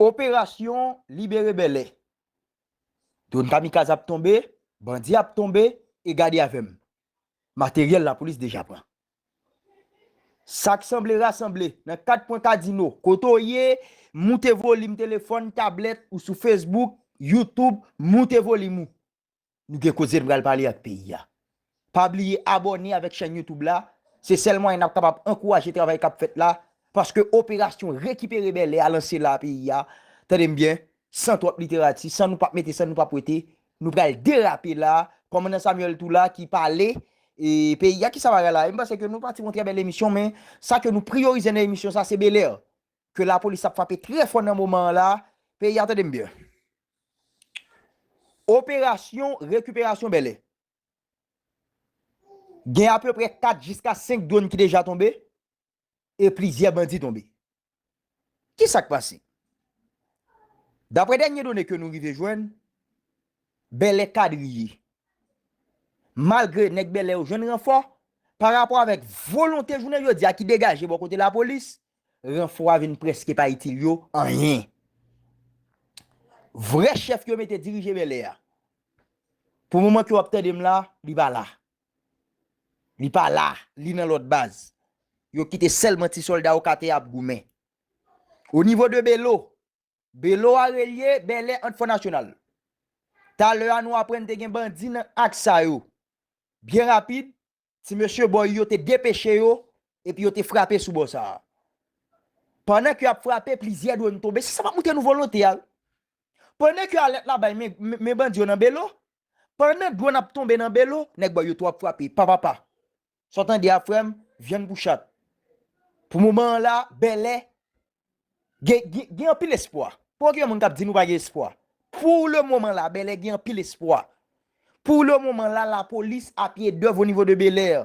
Operasyon libere Bèlè. Drone kamikaz ap tonbe, bandi ap tonbe e gade avè m. Materyèl lapolis deja pran. Sa k sanble rasanble nan 4 kwen kadino. Kote w ye, moute volim telefòn, tablèt ou sou Facebook, YouTube, moute volim ou. Nou gen koze n pral pale ak peyi a. Pa bliye abòne avèk chèn YouTube la, se sèl mwayen nap kapab ankouraje travay kap fèt la, paske operasyon rekipere Bèlè a lanse la peyi a, tande m byen, san twòp literati, san nou pap mete san nou pap wete, nou pral derape la, kòmandan Samuel tou la ki pale e peyi a, kisa bagay la ye, m panse ke nou pati yon trè bèl emisyon men sa ke nou priyorize nan emisyon sa se Belè, ke lapolis ap frape trè fò nan moman an la, peyi a tande m byen. Operasyon rekiperasyon Bèlè. Gen apeprè 4 jiska 5 dronn ki deja tonbe e plizyè bandi tonbe. Ki sa k pase? Daprè dènye done ke nou rive jwenn, Bèlè kadriye. Malgre nèg Bèlè yo jwenn ranfò, parapò avèk volonte jounen jodi a ki degaje bò kote lapolis, Ranfò a vin prèske pa itil yo anyen. Vrè chèf yo mete dirije Bèlè a, pou moman ke w ap tande m la, li pa la. Li pa la, li nan lòt baz. Yo kite sèlman ti sòlda Okatè a ap goumen. O nivo de Belo, Belo a relye Bèlè ant Fò Nasyonal. Talè a nou aprann te gen bandi nan aks sa yo. Byen rapid, Ti mesye bò yo te depeche yo epi yo te frape sou bò sa a. Pandan ke y ap frape, plizyè dwonn tonbe. Se sa m ap montre nou volonte a wi. Pandan ke alèt la bay, men bandi yo nan Belo. Pandan dwonn ap tonbe nan Belo, nèg bò yo tou ap frape. Pa pa pa. Sa w tande a frè m, vyann pou chat. Pou moman an la, Bèlè, Gen anpil espwa. Pou gen moun k ap di nou pa gen espwa. Pou le moman la, Bèlè gen anpil espwa. Pou le moman la, lapolis a pye dèv o nivo de Belè.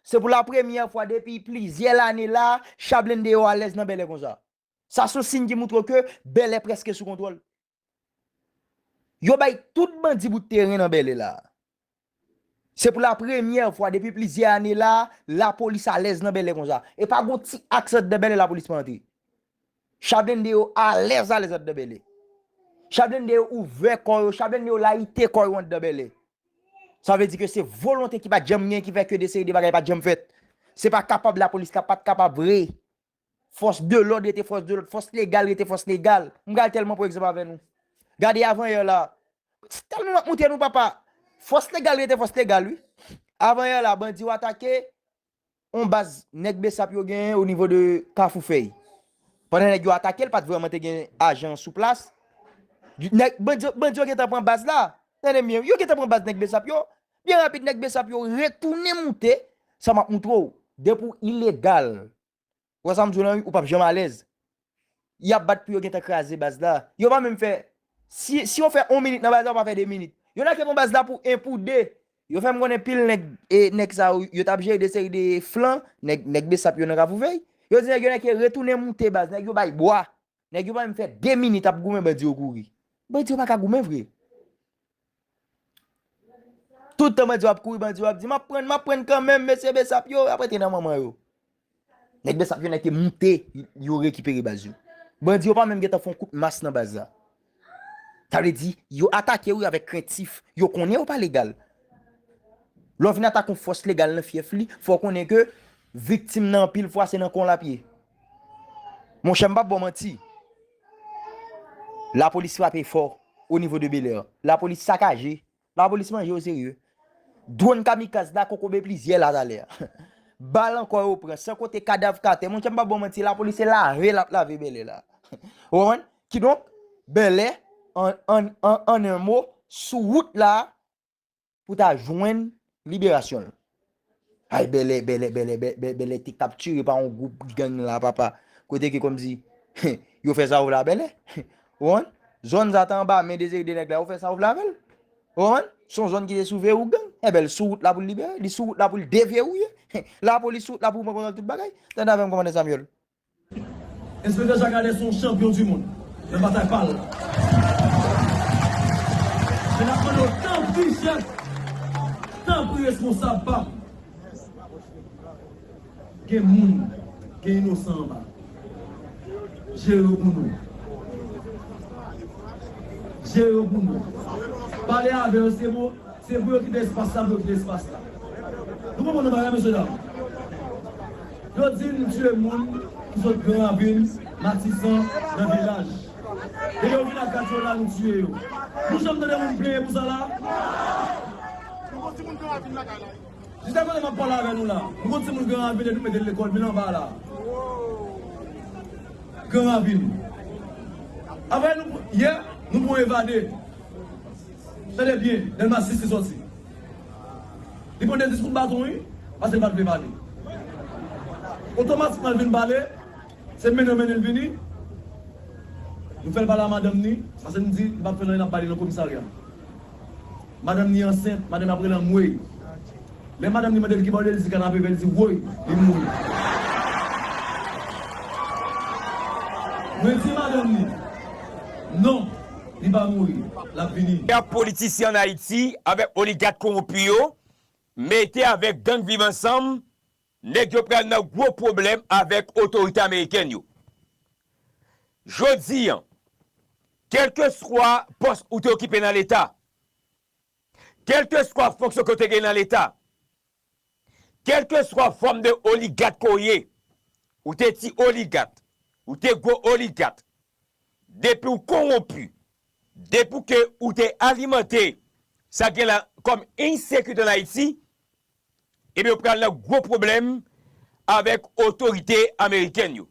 Se pou la premyè fwa depi plizyè lane la, cha blende yo alèz nan Bèlè konsa. Sa se yon siy ki moutre ke Bèlè prèske sou kontwòl. Yo bay tout bandi bout teren nan Bèlè la a. Se pou la premyè fwa depi plizyè ane la a, lapolis alèz nan Bèlè konsa. E pa gon ti aks andedan Bèlè lapolis pa antre. Cha blende yo alèz alèz andedan Bèlè. Cha blende yo ouvè kò yo, cha blende yo layite kò yo andedan Bèlè. Sa vle di ke se volonte ki pa t janm gen ki fè ke de seri de bagay pa t janm fèt. Se pa kapab lapolis ka pa t kapab vre. Fòs de lòd rete fòs de lòd, fòs legal rete fòs legal. M pral tèlman pran egzanp avè nou. Gade avanyè la. Se tèlman m ap montre nou papa. Fòs legal rete fòs legal wi. Avanyè la bandi yo atake yon baz nèg bsap yo genyen o nivo de kafou fèy. Pandan nèg yo atake l pat vrèman te gen ajan sou plas. Bandi yo gentan pran baz la. Tande m byen wi. Yo gentan pran baz nèg bsap yo. Byen rapid nèg besap yo retounen moute sa map moutre w depi w ilegal ou wè sa m di w lan wi ou pap janm alèz yap bat pou yo gentan kraze baz la yo pa menm fè si si yo fè on minit nan baz la yo pa fè 2 minit yo lage bon baz la pou 1 pou 2 yo fè m konnen pil nèg e nèg sa yo yo tap jere de seri de flan nèg nèg besap yo nan kafou vèy yo di nèg yo nèg yo retounen moute baz nèg yo bay bwa Nèg yo pa menm fè 2 minit ap goumen bandi yo kouri. Bandi yo pa ka goumen vre. Tout tan bandi yo ap kouri bandi yo ap di map prann map prann kanmenm mesye besap yo ap rete nan manman yo. Nèg besap yo nèg te moute yo rekipere baz yo. Bandi yo pa menm gentan fon kout mas nan baz la. Sa vle di, yo atake ou avèk krentif. Yo konnen ou pa legal. Lè w vin atake yon fòs legal nan fyèf li, fò w konnen ke viktim nan anpil fwa se nan kon l ap ye. Monchè m pa p ba w manti, lapolis frape fò onivo de Belè. Lapolis sakaje La polis manje yo serye. Dwon kamikaz la kokobe plizyè la talè. Bal ankò yo pran, san konte kadav k atè. Monchè m pa ba w manti, la polis se lave l ap lave Bèlè la. Ou konprann? Kidonk, Bèlè, an en mo, sou wout la pou ta jwenn liberasyon l. Hay bèlè bèlè bèlè bèlè bèlè te kapture pa yon group gang la papa kote ke komsi yo fè sa ou vle a bèlè ou konprann zòn sa ta anba men de seri de nèg la yo fè sa ou vle avèl ou konprann son zòn ki te sou verou gang ebè l sou wout la pou l libere li sou wout la pou l deverouye lapolis sou wout la pou pran kontwòl tout bagay tande avèm komandè Samuel Enspektè Jacques Adès se yon chanpyon du mond nan batay pa l. Men n ap mande w tanpri chèf, tanpri responsab pa m. Gen moun, gen inosan anba. Jere yo pou nou. Jere yo pou nou. Pale avè yo se pou se pou yo kite espas la pou yo kite espas la. Nou konprann yon bagay mesye dam? Yo di m tue moun ki sot gran ravin, matisan, nan vilaj. E yo vin ak radyo la nou tue yo. Nou janm tande moun plenyen pou sa la? Nou gon timoun gran ravin lakay la? Jiska kote map pale avè nou la, nou gon timoun gran ravin depi mete l lekol vil anba la? Gran ravin. Aprè nou, yè, nou pran evade. Tande byen, Delma 6 li soti. Li pran 2 diskou baton wi pase li pat vle pale. Otomatikman li vin pale se mennen yo mennen li vini. Nou fèl pale a madanm ni pase nou di li pap fè anyen nap bay li nan komisarya. Madanm ni ansent madanm ni ap rele anmweyy. Lè madanm ni mandel kibaw li ye li di kanape vè li di woy li mouri. Mwen di madanm ni non. li pa mouri lap vini. Pèp politisyen an Ayiti avèk oligat konronpi yo mete avèk gang viv ansanm nèg yo pral nan gwo pwoblèm avèk otorite amerikèn yo jodi an kèlkeswa pòs ou te okipe nan leta kèlkeswa fonksyon ke w te genyen nan leta Kelkeswa fòm de oligat ke w ye, ou te ti oligat, ou te gwo oligat, depi w konwonpi, depi ke ou te alimante sa gen la kòm ensekirite an Ayiti, ebyen ou pral nan gwo pwoblèm avèk otorite amerikèn yo.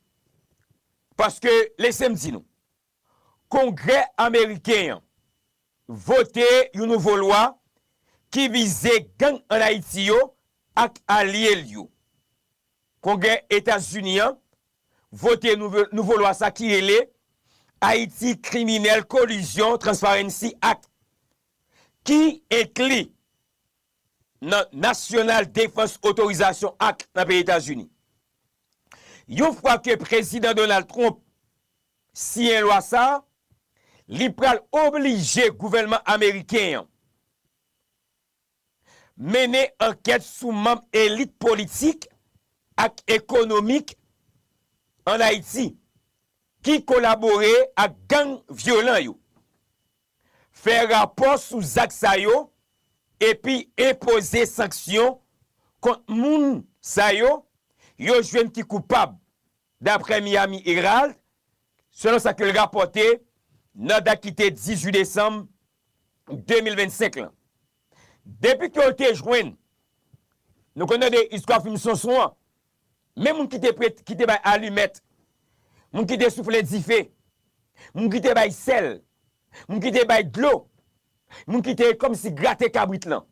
Paske lese m di nou, Kongrè ameriken an vote yon nouvo lwa ki vize gang an Ayiti yo ak alye l yo. Kongrè Etazini an vote nouvo lwa sa ki rele Haiti Criminel Collusion Transparency Act ki enkli nan National Defense Authorization Act nan peyi Etazini. Yon fwa ke Prezidan Donald Trump siyen lwa sa a, li pral oblije gouvènman ameriken an mennen ankèt sou manm elit politik ak ekonomik ann Ayiti ki kolabore ak gang vyolan yo. Fè rapò sou zak sa yo epi enpoze sanksyon kont moun sa yo yo jwenn ki koupab, daprè Miami Herald, selon sa ke l rapòte nan dat ki te 18 desanm 2025 lan. Depi ke yo te jwenn, nou konnen de istwa fim Sonson an, Men moun ki te prete, ki te bay alimèt, moun ki te soufle dife, moun ki te bay sèl, moun ki te bay dlo, moun ki te kòmsi grate kabrit lan.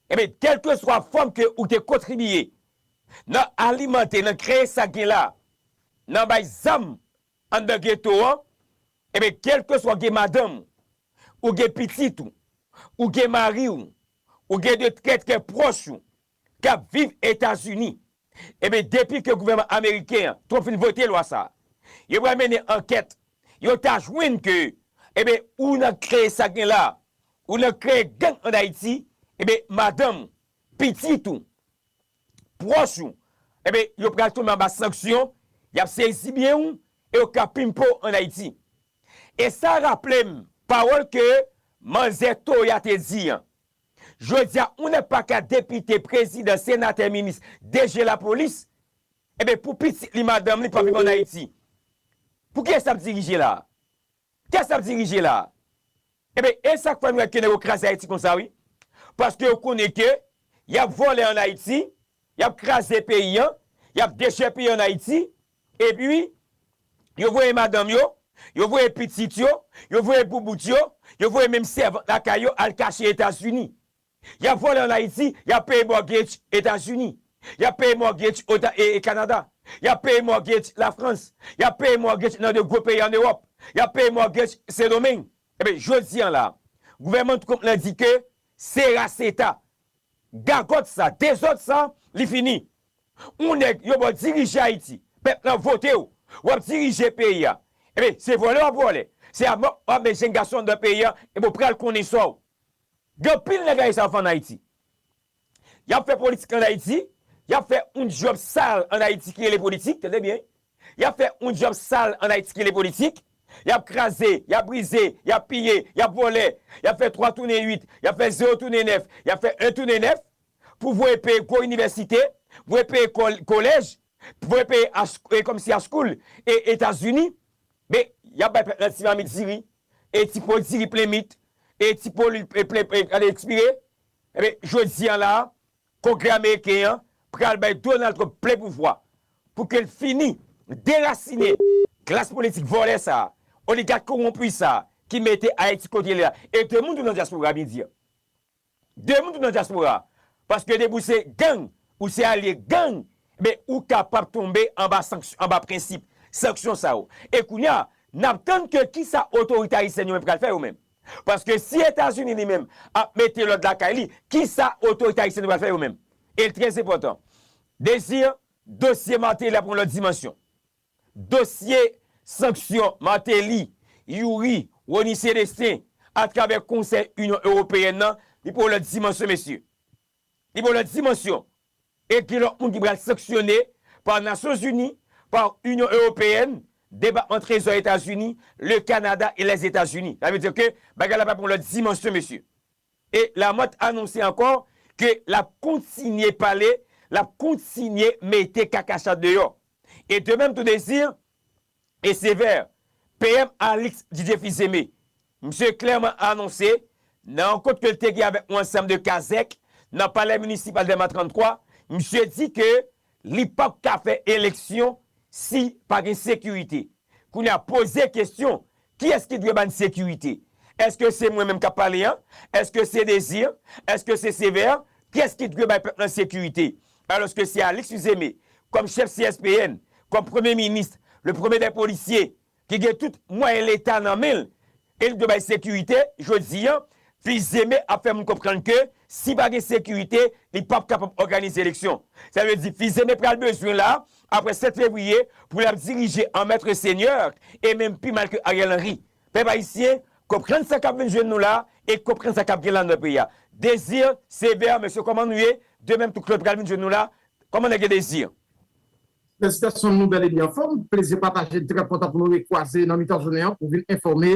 Enben, kèlkeswa fòm ke ou te kontribiye nan alimante, nan kreye sa gen la, nan bay zam anndan geto an, enben kèlkeswa ou gen madanm ou, ou gen pitit ou, ou gen mari ou, ou gen de trè trè pwòch ou, kap viv etazini ebyen depi ke gouvèman ameriken an twop fin vote lwa sa yo pral mennen ankèt yo ta jwenn ke ebyen ou nan kreye sak gen la ou nan kreye gang an ayiti ebyen madanm ou pitit ou pwòch ou ebyen yo pral tonbe anba sanksyon yap sezi byen ou e yo ka pimpe w an ayiti e sa raplem pawòl ke manzè toya te di an Jodia ou nè paka depite prezidan senatè minis deje lapolis eben pou pitit li madanm li pa viv an ayiti pou kiyes lap dirije la kiyes lap dirije la eben esak fè nou wè ke nèg yo kraze ayiti konsa wi paske yo konnen ke yap vòlè an ayiti yap kraze peyi an yap dechèpiye an ayiti Epi, yo voye madanm yo, yo voye pitit yo, yo voye boubout yo, yo voye menm sèvant lakay yo al kache Etazini. Y ap vole ann Ayiti, y ap peye mortgage Etazini. Y ap peye mortgage Ota e Kanada. Y ap peye mortgage Lafrans. Y ap peye mortgage nan de gwo peyi ann Ewòp. Y ap peye mortgage Sendomeng. Ebyen, jodi an la a, gouvènman Trump lan di ke se ras eta, gagòt sa, dezòd sa, li fini. Ou nèg yo baw dirije ayiti pèp lan votew wap dirije peyi a ebyn se vòlè wap vòlè se amò wap met jenn gason andan peyi a ebyn ou pral konnen saw gen anpil nèg ayisyen ap fè an ayiti yap fè politik an ayiti yap fè yon dyòb sal an ayiti ki rele politik tande byen yap fè yon dyòb sal an ayiti ki rele politik yap kraze yap brize yap piye yap vòlè yap fè 3 tounen 8 yap fè 0 tounen 9 yap fè 1 tounen 9 pou voye peye gwo inivèsite, voye peye kolèj, voye peye e kòmsi a school e Etazini, men yap bay pèp lan ti mamit diri e ti po diri plen mit e ti po lwil plen ekspire, enben jodi an la a kongrè ameriken an pral bay Donald Trump plen pouvwa pou ke l fini derasine klas politik vòlè sa a, oligat kowonpi sa a ki mete Ayiti kote li la e de moun tou nan dyaspora bndye. De moun ki nan diaspora paske depi ou se gang ou se alye gang ebyen ou kapab tonbe anba sanksyon anba prensip sanksyon sa yo e kounya nap tann ke kisa otorite ayisyèn yo menm pral fè yo menm paske si etazini li menm ap mete lòd lakay li kisa otorite ayisyèn yo pral fè yo menm el trèzepotan dezi dosye martelly ap yon lòt dimansyon. Dosye sanksyon Martelly, Youri, Rony Celestin atravè Konsèy Inyon Ewopeyèn nan, li pran yon lòt dimansyon mesye. Li pran yon lòt dimansyon e gen lòt moun ki pral sanksyone pa Nasyonzini, pa Inyon Ewopeyèn, Depatman Trezò Etazini, Le Canada et les Etats-Unis. Sa vle di ke bagay la pral pran yon lòt dimansyon mesye. E Lamòt anonse ankò ke l ap kontinye pale, l ap kontinye mete kakachat deyò. E de menm tou Désir e Sévère, PM Alix Didier Fils-Aimé, misye klèman anonse nan rankont ke l te gen avèk yon ansanm de kazèk nan palè minisipal Dèlma 33, misye di ke Li pap ka fè eleksyon si pa gen sekirite. Kounye a poze kesyon, kiyès ki dwe ba n sekirite? Èske se mwen menm k ap pale an? Èske se Désir? Èske se Sévère? Kiyès ki dwe bay pèp lan sekirite? Alòske se Alix Uzeme, kòm chèf CSPN, kòm premye minis, le premye dè polisye, ki gen tout mwayen leta nan men l e li dwe bay sekirite, jodi an, Fils-Aimé ap fè moun konprann ke si pa gen sekirite, li pap kapab òganize eleksyon. Sa vle di Fils-Aimé pral bezwen la, apre 7 fevriye, pou l ap dirije an maitre seigneur e menm pi mal ke Ariel Henry. Pèp ayisyen, konprann sa k ap vin jwenn nou la e konprann sa k ap gen la nan peyi a. Désir, Sévère, mesye kòman nou ye? De menm tout klod pral vin jwenn nou la. Kòman nèg yo Désir? Felisitasyon nou bel ebi anfom, plezi pataje trè kontan pou nou re kwaze nan mitan jounen an pou vin enfome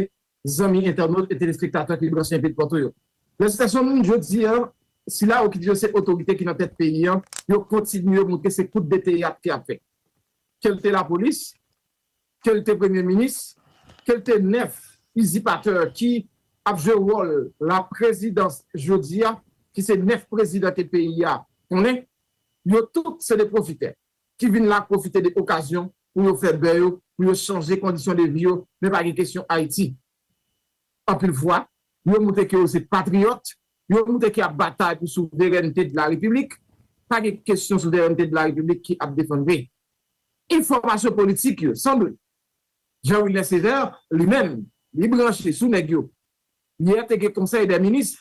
zanmi entènot e telespektatè ki branche enpi dpatou yo. Felisitasyon moun jodi an sila yo ki di yo se otorite ki nan tèt peyi an yo kontinye moutre se kout de teyat ke yap fè. Kelte lapolis, ke l te premye minis, ke l te nèf izipatè ki ap jwe wòl la prezidans jodi a, ki se nèf prezidan ke peyi a konnen, yo tout se de pwofitè ki vin la pwofite de okazyon pou yo fè bè yo, pou yo chanje kondisyon de vi yo, men pa gen kesyon Ayiti. Anpil fwa, yo moutre ke yo se patriyòt, yo moutre ke y ap batay pou souverènte de la Repiblik, pa gen kesyon souverènte de la Repiblik ki ap defann vre. Enfòmasyon politik yo sanble Jean Wilner Sévère li menm li branche sou nèg yo yè te gen konsèy dè minis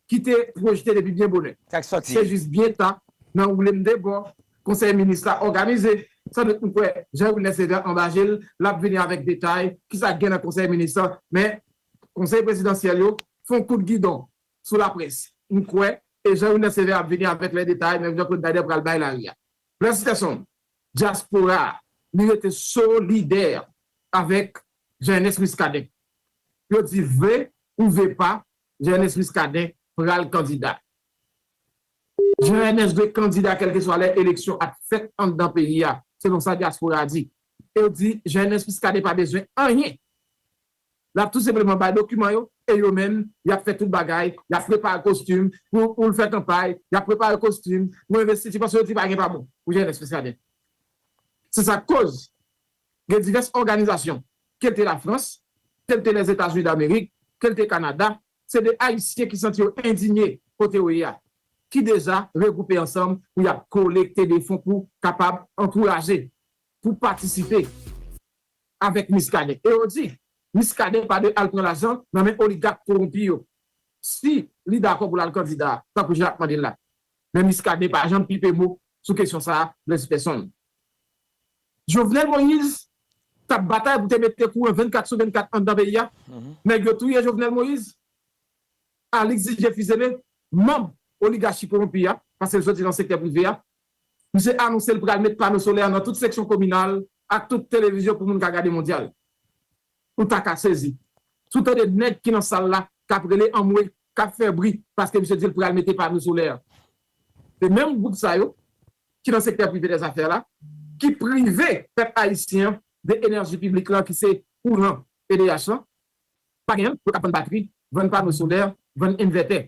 ki te pwojte depi byen bonè se jis byen ta nan woule m de bò konsèy minis la òganize san dout m kwè Jean Wilner Sévère anba je l l ap vini avèk detay kisa k gen nan konsèy minis lan men konsèy prezidansyèl yo fon kout gidon sou laprès, m kwè, e Jean Wilner Sévère ap vini avèk lè detay menm jan Claude Baider pral bay lari a. Blaise Peterson, dyaspora a, li rete solidè avèk Jean Ernest Muscadin. Yo di vle ou ve pa, Jean Ernest Muscadin pral kandida. Jean Ernest dwe kandida kèlkeswa lè eleksyon ap fèt anndan peyi a, selon sa dyaspora a di. Yo di Jean Ernest Muscadin pa bezwen anyen. L ap tou senpleman bay dokiman yo e yo menm y ap fè tout bagay, y ap prepare kostim pou l fè kanpay, y ap prepare kostim pou envestiti paske yo di pa gen pa bon pou jenès Miskaden. Se sa k koz gen divès òganizasyon ke l te Lafrans, ke l te Lèzetazini Damerik, ke l te Kanada, se de Ayisyen ki santi yo endinye kote yo ye a ki deja regwoupe ansanm pou y ap kolekte de fon pou kapab ankouraje, pou patisipe. avèk Miskaden e yo di Miskaden pa dwe al pran lajan nan men oligak kowonpi yo si li dakò pou l al kandida tankou jan y ap mande l la. Men Miskaden pa janm pipe mo sou kesyon sa a Blaise Persson. Jovenel Moïse t ap batay pou te mete kouran 24 sou 24 anndan peyi a, nèg yo touye Jovenel Moïse, Alix Didier Fils-Aimé, manb oligachi kowonpi a, pase l soti nan sektè prive a, Misye anonse l pral met pano solè nan tout seksyon kominal ak tout televizyon pou moun ka gade mondyal. Ou ta ka sezi si w tande nèg ki nan sal la k ap rele anmwe, k ap fè bri paske misye di l pral mete pano solè. Se menm gwoup sa yo ki nan sektè prive dèzafè la ki prive pèp ayisyen an de enèji piblik la ki se kouran edh lan pa genyen l, yo k ap vann batri, vann pano solè, vann envètè.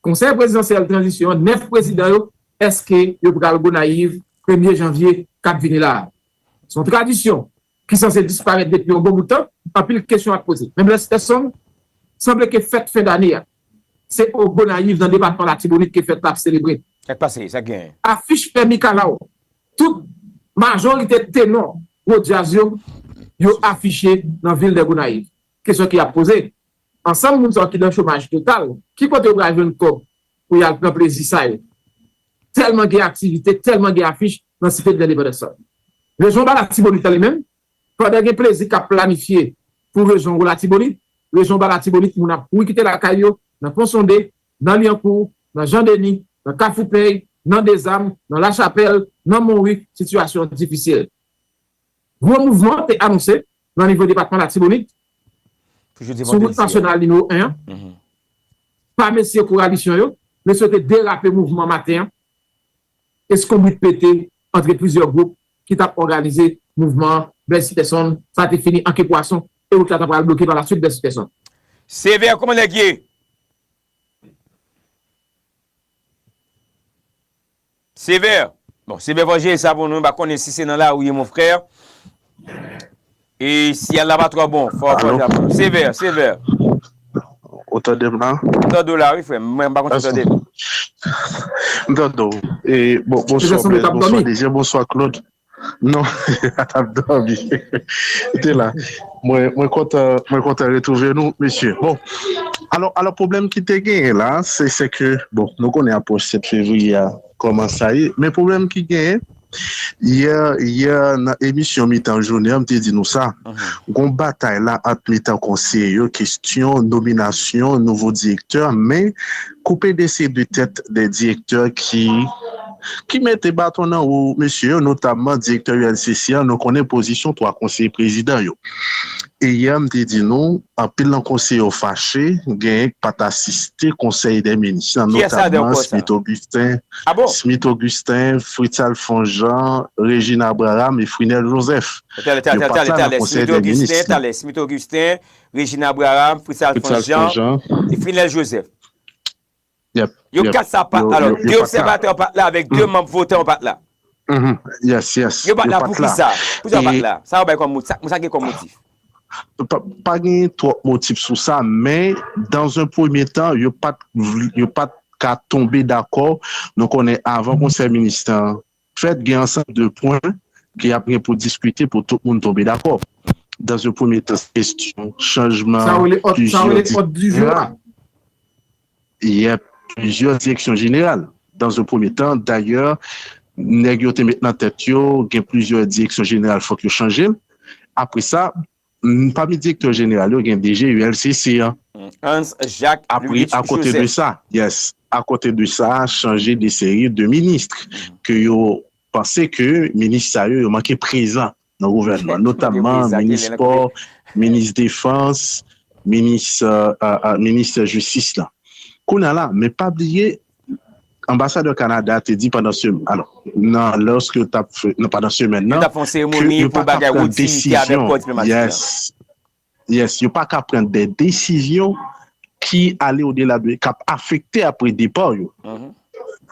Konsèy prezidansyèl tranzisyon an 9 prezidan yo eske yo pral Gonayiv premye janvye k ap vini la a? Se yon tradisyon ki sanse disparèt depi yon bon bout tan, anpil kesyon ap poze. Men Blèstèson, sanble ke fèt fen dane a se o Gonayiv nan depatman Latibonit ke fèt la ap selebre. Sa k pase? Sa k genyen? Afiche fè mikalaw. Tout majorite tenò gwo djaz yo yo afiche nan vil dè Gonayiv. Kesyon ki ap poze, Ansanm moun sa yo ki nan chomaj total, ki kote yo pral jwenn kòb pou y al pran plezi sa yo? Tèlman gen aktivite, tèlman gen afich nan Site de Lendepandans sa yo. Rejyon ba Latibonit lan li menm, pandan gen plezi k ap planifye pou rejyon Wo Latibonit, rejyon Ba Latibonit moun ap kouri kite lakay yo nan Ponsonde, nan Lyankou, nan Jan Deni, nan Kafoupèy, nan Dezam, nan Lachapèl, nan Monwi, sitiyasyon difisil. Gwo mouvman an te anonse nan nivo depatman Latibonit sou wout nasyonal nimewo 1 an pa mesye kowalisyon yo, mesye yo te derape mouvman an maten an, eskonbrit pete antre plizyè gwoup ki tap òganize mouvman an, Blaise Peterson, sa te fini an ke pwason e wout la ta pral bloke palaswit Blaise Peterson. Sévère kòman nèg ye? Sévère Bon Sévère Vanje sa pou nou mpa konnen si se nan lari ou ye mon frère E siyal la pa twò bon fò fò ta bon Sévère Sévère Ou tande m la? M tande w la wi frè m, mwen pa konn si w tande m. M tande w. Bonswa Blaise, bonswa Désir, bonswa Claude. Non a tap domi ou te la mwen kontan mwen kontan retrouve nou mesye bon alò alò pwoblèm ki te genyen la se se ke bon nou konnen apwoch 7 fevriye a kòman sa ye men pwoblèm ki genyen yè yè nan emisyon mitan jounen an m te di nou sa gon batay la ant mitan konseye yo kestyon nominasyon nouvo direktè men Koupe dese 2 tèt 2 direktè ki ki mete baton nan wou mesye yo, notamman direktè UNCC an, nou konnen pozisyon 3 konseye prezidan yo. E yè m te di nou, anpil nan konseye yo fache, genyen k pat asiste konsèy dè minis lan, notamman Smith Augustin, Smith Augustin, Fritz Alphonse Jean, Regine Abraham e Frinel Joseph. Yo pat la nan konsèy dè minis lan. Regine Abraham, Fritz Alphonse Jean, et Frinel Joseph. Yo 4 sa pat la. Alors, 2 observatè yo pat la avèk 2 manb votan yo pat la. Yo pat la pou ki sa? Pou sa yo pat la? Sa yo bay kòm motif? Sa gen kòm motif? Pa gen twòp motif sou sa, men, dan zon premye tan, yo pat ka tonbe dakò. Nou konnen avan konsèy minis tan, Fèt gen ansanm de pwen ke ap gen pou diskite pou tout moun tonbe dakò. Dans un premye tan se kestyon chanjman Sa rele òd, sa rele òd di jou a. Yep, plizyè direksyon jeneral. Dans un premye tan, dayè, nèg yo te met nan tèt yo gen plizyè direksyon jeneral fòk yo chanje l. Apre sa, Pami direktè jeneral yo gen DG ULCC an. Hans Jacques Louis Joseph. Apre, akote de sa, yes, akote de sa, chanje de seri de ministre ke yo panse ke minis sa yo, yo manke prezan nan gouvènman. Notamman, minis spò, minis defans, minis, minis jistis la. Kounye a la, men pa bliye, Anbasadè Kanada a te di pandan semèn nan, nan lòske yo t ap fè, nan pandan semèn nan, ke yo pa ka pran desizyon, yes, yes, yo pa ka pran de desizyon ki ale o dela de, k ap afekte apre depa w yo.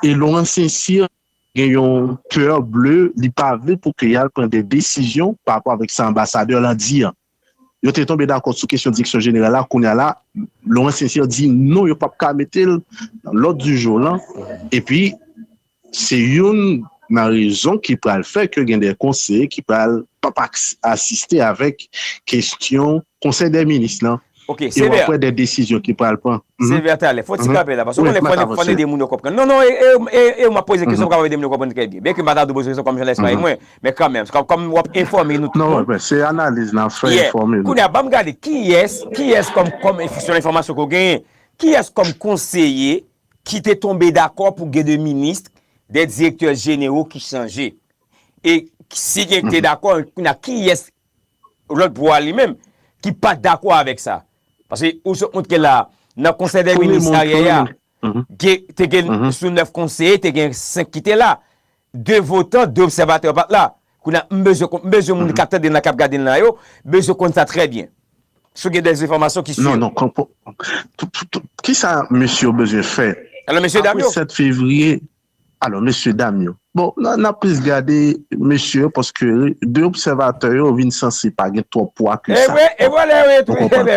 E Laurent Saint-Cyr gen yon coeur bleu, li pa vle pou ke y al pran de desizyon pa rapò avèk sa anbasadè lan di an. Yo te tonbe dakò sou kesyon direksyon jeneral la, kounye a la Laurent Sincère di non yo pap ka mete l nan lòd di jou lan epi se youn nan rezon ki pral fè ke gen de konseye ki pral pap asiste avèk kesyon konsèy dè minis lan e w ap wè de desizyon ki pral pran. Sévère talè, fò ti kanpe la paske w konnen fò n ede moun yo konprann. Non non e w m ap poze kesyon m kapab ede moun yo konprann trè byen byenke m pa ta dwe poze kesyon kòm jounalist pa e mwen Men kanmenm, kòm wap enfòme nou tout moun. Non, se analiz nap fè, enfòme nou. Kounya banm gade kiyès, kiyès kòm, kòm selon enfòmasyon ke w genyen, kiyès kòm konseye ki te tonbe dakò pou gen 2 minis, 2 direktè jenero ki chanje? E si gen ki te dakò, kounya kiyès lòt bò a li menm ki pat dakò avèk sa? Paske ou sot montre la, nan konsèy dè minis aryè a, te gen sou 9 konseye, te gen 5 ki te la. 2 votan, 2 obsèvatè pa t la. Kounye a, m bezwen konn, m bezwen moun k ap tande n lan, k ap gade n lan yo, bezwen konn sa trè byen. Si w gen dè enfòmasyon ki sur. Non, non, ki sa mesye yo bezwen fè apre 7 fevriye? Alò, mesye dam yo. Bon, n ap plis gade mesye yo paske 2 obsèvatè yo vin sanse pa gen twòp pwa ke sa. E wè, e wè lè yo entwouve,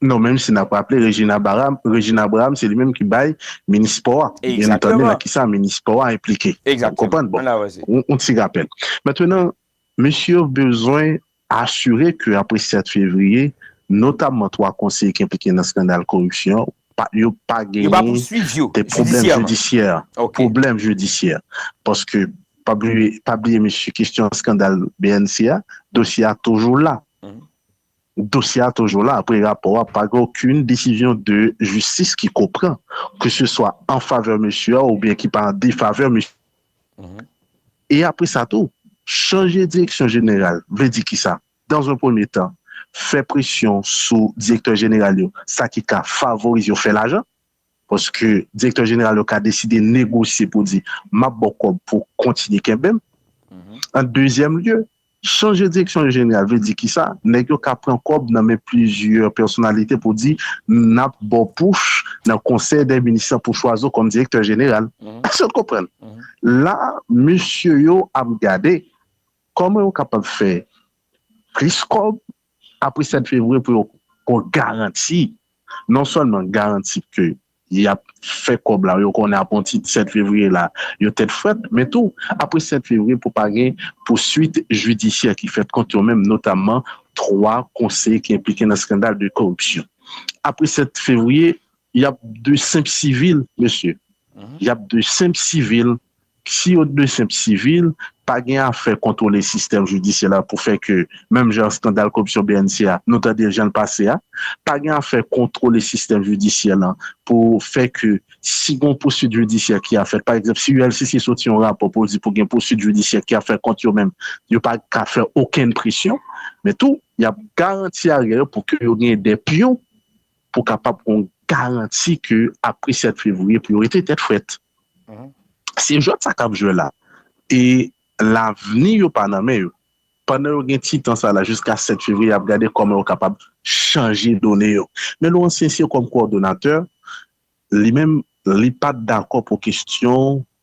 Non menm si nap raple Regine Abaram, Regine Abraham se li menm ki bay minis spò a byen entanni nan ki sa minis spò a enplike ou konprann bon yon ti rapèl. Mentrenan mesye yo bezwen asire ke apre 7 fevriye notamman 3 konseye ki enplike nan skandal koripsyon pa yo pa genyen de pwoblèm jidisyè pwoblèm jidisyè paske pa bliye pa bliye mesye kestyon skandal bnc a dosye a toujou la. Dosye a toujou la apre rapò a pa gen okenn desizyon de jistis ki ko pran ke se swa an favè mesye a oubyen ki pa an defavè mesye a. E apre sa tou, chanje direksyon jeneral vle di kisa? Dan zon premye tan, fè presyon sou direktè jeneral yo, sa ki ka favorize yo fè lajan. Paske direktè jeneral yo ka deside negosye pou di, m ap ba w kòb pou w kontinye kenbe m. An dezyèm lye, chanje direksyon jeneral vle di ki sa? Nèg yo ka pran kòb nan men plizyè pèsonalite pou di, n ap ba w pouch nan konsèy dè minis lan pou chwazi w kòm direktè jeneral. Èske n konprann? La a, mesye yo ap gade kòman yo kapab fè plis kòb Apre 7 fevriye pou yo kon garanti, non sèlman garanti ke y ap fè kòb la, yo konnen aponti 7 fevriye la yo tèt frèt, men tou apre 7 fevriye pou pa gen pouswit jidisyè ki fèt kont yo menm, notamman 3 konseye ki enplike nan skandal de koripsyon. Apre 7 fevriye, y ap de senp sivil, mesye. Y ap de senp sivil Si yo t de senp sivil, pa gen afè kontwole sistèm jidisyè la pou fè ke, menm jan skandal koripsyon bnc a, nou tande l jan l pase a. Pa gen afè kontwole sistèm jidisyè lan pou fè ke si gon pouswit jidisyè ki ap fèt, pa egzanp si ULCC soti yon rapò pou l di pou gen pouswit jidisyè ki ap fèt kont yo menm, yo pa ka fè okenn presyon. Men tou, y ap garanti aryè yo pou ke yo gen de pyon pou kapab gon garanti ke apre 7 fevriye priyorite tèt frèt. Se jwèt sa kap jwè la e lavni yo pa nan men yo. Pandan yo gen ti tan sa la jiska 7 fevriye yap gade kòman yo kapab chanje done yo. Men Laurent Sincere kòm kowòdonatè, li menm li pat dakò pou kestyon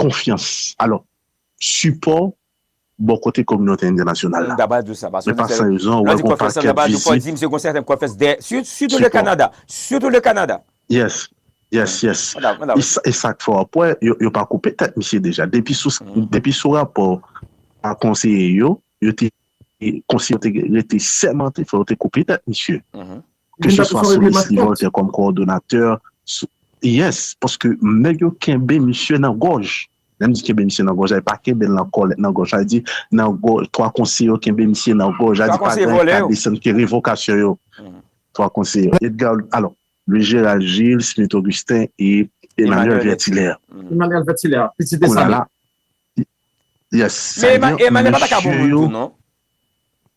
konfyans, alò, sipò bò kote kominote entènasyonal la. Men pa san rezon ou wè gon pakèt vizit. Yes, yes, yes. E sa k fè w ap wè yo pa koupe tèt misye deja. Depi sou rapò a konseye yo, yo te rete sèmante fò yo te koupe tèt misye. Ke se swa sou Lesly Voltaire kòm kowòdonatè, sou. Yes, paske nèg yo kenbe misye nan gòj. Lè m di kenbe misye nan gòj la, yo pa kenbe l nan kòlèt nan gòj la. Yo di nan gòj, 3 konseye yo kenbe misye nan gòj la, di pa gen ka desann ke revokasyon yo. 3 konseye yo, Edgar, alò, Louis Gérald Gilles, Smith Augustin e Emmanuel Vertilaire. Emmanuel Vertilaire, pitit Dessalines. Yes, sa vle di, mesye yo.